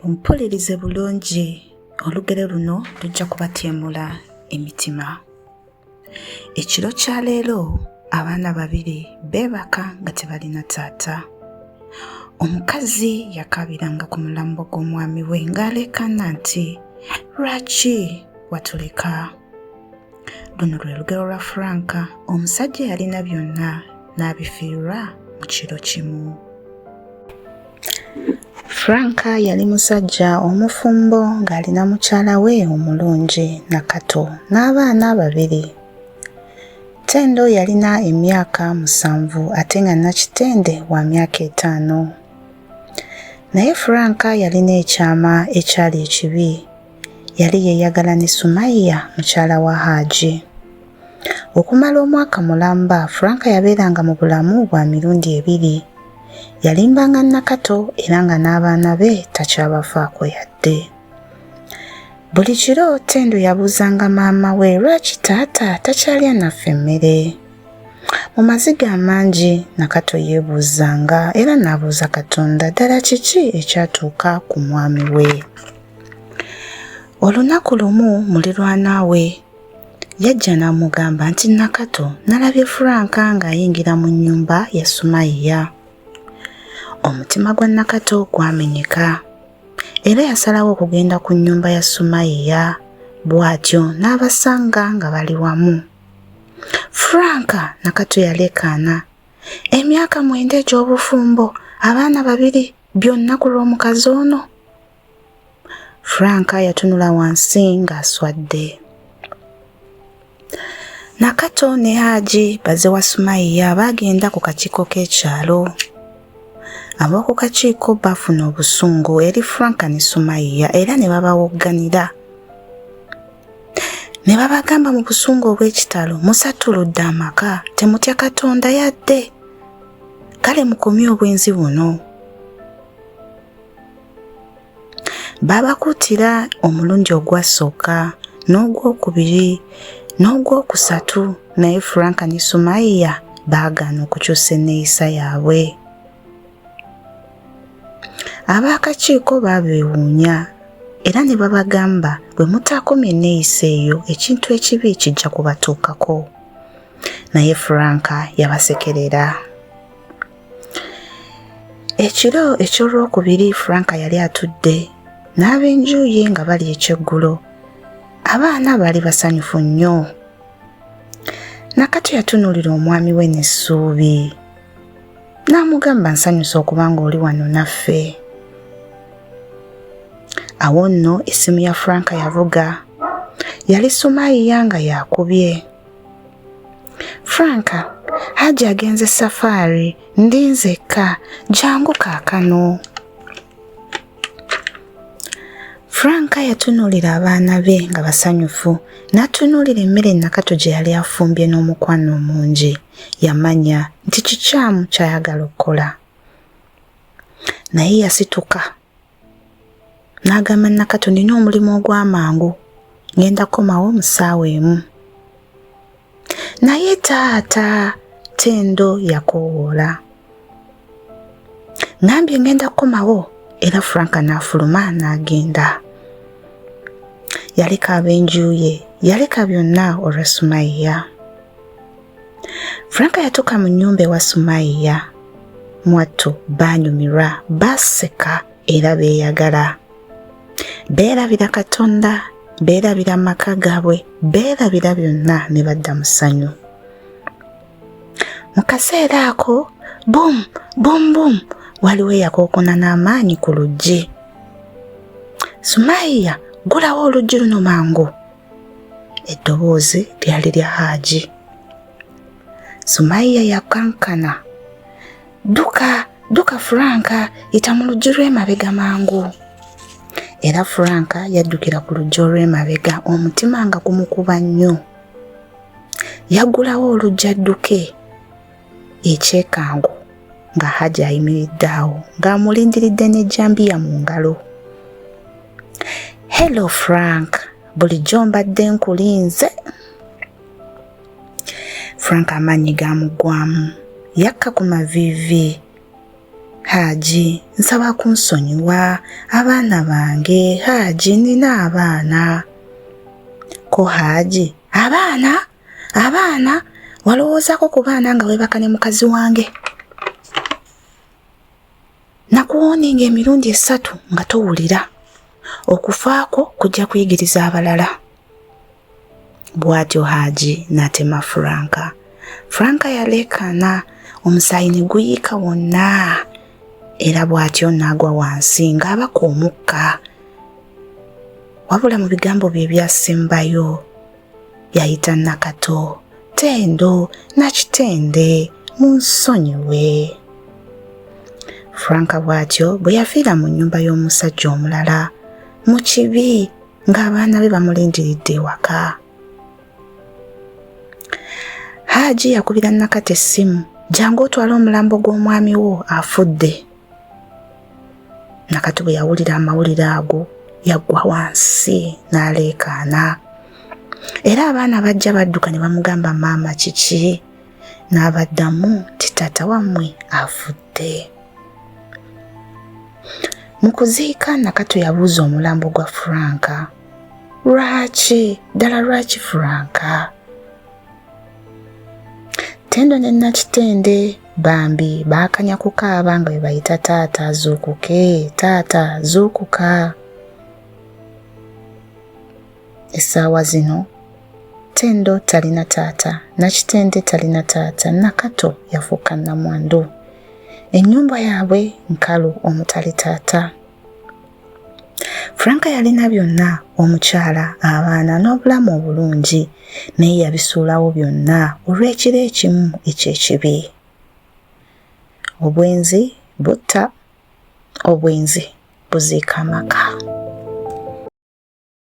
mumpulirize bulungi olugero luno lujja kubatyemula emitima ekiro kya leero abaana babiri beebaka nga tebalina taata omukazi yakaabiranga ku mulambo gw'omwami we ng'aleekaana nti lwaki watuleka luno lwe lugero lwa franka omusajja yalina byonna n'abifiirwa mu kiro kimu frank yali musajja omufumbo ng'ali na mukyala we omulungi nakato n'abaana babiri tendo yalina emyaka musanvu ate nga nakitende wa myaka etaano naye frank yalina ekyama ekyali ekibi yali yeeyagala ne sumaiya mukyala wa haaji Okumala omwaka mulamba, Frank yabeeranga mu bulamu bwa mirundi ebiri. Yalimbanga Nakato era nga n'abaana be takyabafaako yadde. Buli kiro Tendo yabuuzanga maama we lwaki taata takyalya naffe emmere. Mu maziga amangi Nakato yeebuuzanga era n'abuuza Katonda ddala kiki ekyatuuka ku mwami we. Olunaku lumu mulirwana we Yajja n'amugamba nti Nakato nalabye Frank ng'ayingira mu nnyumba ya Sumayiya. Omutima gwa Nakato gwamenyeka era yasalawo okugenda ku nnyumba ya Sumayiya bw'atyo n'abasanga nga bali wamu. Frank Nakato yaleekaana emyaka mwenda egy'obufumbo abaana babiri byonna ku lw'omukazi ono. Frank yatunula wansi ng'aswadde. Nakato ne Haji baze wa Sumayiya baagenda ku kakiiko k'ekyalo. Ab'oku kakiiko baafuna obusungu eri Frank ne Sumayiya era ne babawogganira. Ne babagamba mu busungu obw'ekitalo musatuludde amaka temutya Katonda yadde. Kale mukomye obwenzi buno. Baabakuutira omulundi ogwasooka n'ogwokubiri n'ogwokusatu naye Frank ne Sumayiya baagaana okukyusa enneeyisa yaabwe. Abaakakiiko baabeewuunya era ne babagamba bwe mutaakomya enneeyisa eyo ekintu ekibi kijja kubatuukako. Naye Frank yabasekerera. ekiro eky'olwokubiri frank yali atudde n'ab'enjuuye nga bali ekyeggulo abaana baali basanyufu nnyo nakati yatunuulira omwami we n'essuubi n'amugamba nsanyusa okuba ng'oli wano naffe awo nno essimu ya frank yavuga yali sumayiya nga yakubye Franka, Haji agenze safaari, ndi nzekka, jangu kaakano. Franka yatunuulira abaana be nga basanyufu, n'atunuulira emmere Nakato gye yali afumbye n'omukwano omungi. Yamanya nti kikyamu ky'ayagala okukola. Naye yasituka. N'agamba Nakato nina omulimu ogw'amangu ngenda kukomawo mu ssaawa emu. Naye taata Tendo yakoowoola. Ngambye ngenda kukomawo era Frank n'afuluma n'agenda. Yaleka ab'enju ye yaleka byonna olwa Sumayya. Frank yatuuka mu nnyumba ewa Sumayiya. Mwattu baanyumirwa, baaseka era beeyagala. Beerabira Katonda, beerabira amaka gaabwe, beerabira byonna ne badda mu ssanyu. Mu kaseera ako, bum bum bum, waliwo eyakookona n'amaanyi ku luggi. Sumayiya, ggulawo oluggi luno mangu! eddoboozi lyali lya haaji sumaiya yakankana dduka dduka furanka yita mu luggi lw'emabega mangu era furanka yaddukira ku luggi olw'emabega omutima nga gumukuba nnyo yaggulawo oluggi adduke ekyekango nga hajji ayimiridde awo ng'amulindiridde n'ejjambiya mu ngalo Hello Frank, bulijjo mbadde nkulinze. Frank amaanyi gaamuggwamu yakka ku maviivi. Haaji, nsaba kunsonyiwa abaana bange. Haaji, nina abaana. Ko Haaji, abaana? Abaana? Walowoozako ku baana nga weebaka ne mukazi wange? nakuwooninga emirundi esatu nga towulira okufaako kujja kuyigiriza abalala bw'atyo haaji n'atema franka franka yaleekaana omusaayi ne guyiika wonna era bw'atyo n'agwa wansi ng'abaka omukka wabula mu bigambo bye ebyasembayo yayita Nakato, Tendo, Nakitende munsonyiwe. Frank bw'atyo bwe yafiira mu nnyumba y'omusajja omulala mu kibi ng'abaana be bamulindiridde ewaka. Haaji yakubira Nakate essimu, jangu otwale omulambo gw'omwami wo afudde. nakati bwe yawulira amawulire ago yaggwa wansi n'aleekaana era abaana bajja badduka ne bamugamba maama kiki n'abaddamu nti taata wammwe afudde mu kuziika nakato yabuuza omulambo gwa franka lwaki ddala lwaki franka Tendo ne Nakitende bambi baakanya kukaaba nga bwe bayita taata zuukuke taata zuukuka essaawa zino Tendo talina taata Nakitende talina taata Nakato yafuuka nnamwandu ennyumba yaabwe nkalu omutali taata Frank yalina byonna omukyala abaana n'obulamu obulungi naye yabisuulawo byonna olw'ekiro ekimu eky'ekibi obwenzi butta obwenzi buziika amaka